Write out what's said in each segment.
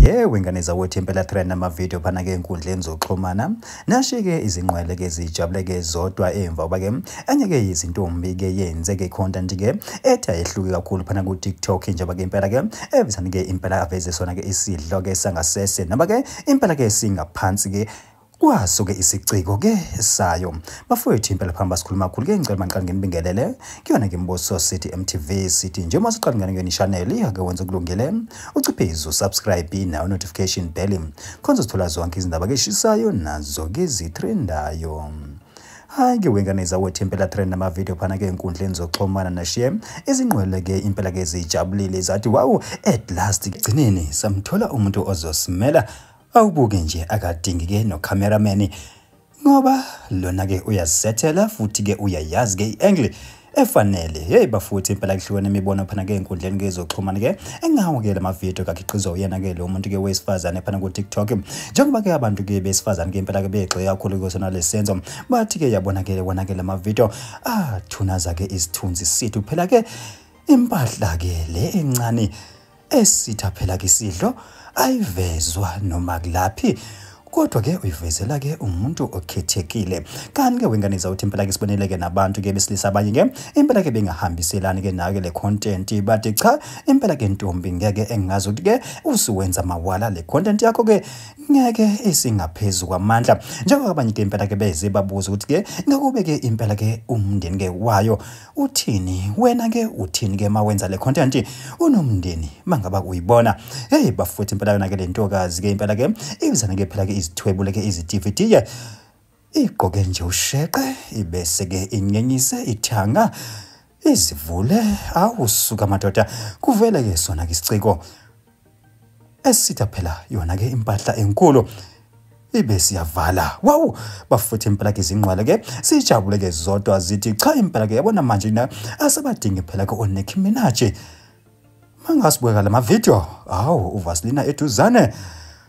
Yewe ngane zakwethu impela trend amavideo phana ke enkundleni zokuxhumana nashike izinqwele ke zijabule ke zodwa emva uba ke enye ke izintombi ke yenze ke content ke ethi ayehluki kakhulu phana ku TikTok njengoba ke impela ke evisani ke impela aveze sona ke isidlo ke sangasese noma ke impela ke singaphansi ke Kwasuke isiciko ke sayo. Bafowethu impela phambi basikhuluma kakhulu ke ngicela manqani nginibingelele. Kuyona ke Mbuso City MTV City nje uma siqala ngene ngeni channel ake wenza ukulungile. Uciphizo subscribe nawo notification bell. Khonza sithola zonke izindaba ke shisayo nazo ke zitrendayo. Hayi ke wengane zawethu impela trend namavideo phana ke enkundleni zokuxhumana nashiye izingqwele ke impela ke zijabulile zathi wow at last gcineni samthola umuntu ozosimela Awubuke nje akadingi ke no cameraman ngoba lona ke uyazisethela futhi ke uyayazi ke iangle efanele hey bafuthi impela kuhlukene imibono phana ke enkundleni ke izoxhumana ke engawo ke lama video kakhiqizwa uyena ke lo muntu ke wesifazane phana ku TikTok njengoba ke abantu ke besifazane ke impela ke begxile kakhulu kusona lesenzo bathi ke yabona ke wona ke lama video ah thunaza ke isithunzi sithu phela ke impahla ke le encane esitha phela kisidlo ayivezwa noma kulaphi kodwa ke uyivezela ke umuntu okhethekile kanti ke wengane zawuthi impela ke sibonele ke nabantu ke besilisa abanye ke impela ke bengahambiselani ke nayo ke le content but cha impela ke ntombi ngeke engazi ukuthi ke usuwenza mawala le content yakho ke ngeke isingaphezulu kwamandla njengoba abanye ke impela ke beze babuza ukuthi ke ngakube ke impela ke umndeni ke wayo uthini wena ke uthini ke mawenza le content unomndeni mangaba uyibona hey bafowethu impela yona ke le ntokazi ke impela ke ibizana ke phela ke izithwebule ke izidivitiye igqoke nje usheqe ibese ke inyenyise ithanga izivule awusuka madoda kuvele ke sona ke isiciko esitha phela yona ke impahla enkulu ibe siyavala wawu bafuthi impela ke izingqwele ke sijabule ke zodwa zithi cha impela ke yabona manje na asabadingi phela ke oNicki Minaj mangasibuyeka lama video hawu uVasilina eduzane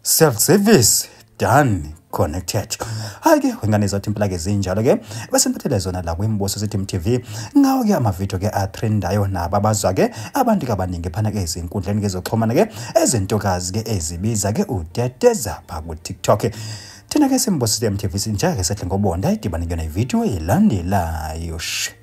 self service done connected hayi ke wengane zathi impela ke zinjalo ke bese ngiphathele zona la kwimbuso sithi MTV ngawo ke amavideo ke atrendayo nabo abazwa ke abantu ke abaningi phana ke izinkundleni ke zoxhumana ke ezintokazi ke ezibiza ke uteteza pha ku TikTok thina ke simbosile MTV sinjake sehle ngobonda idibane kuyona ivideo elandelayo shh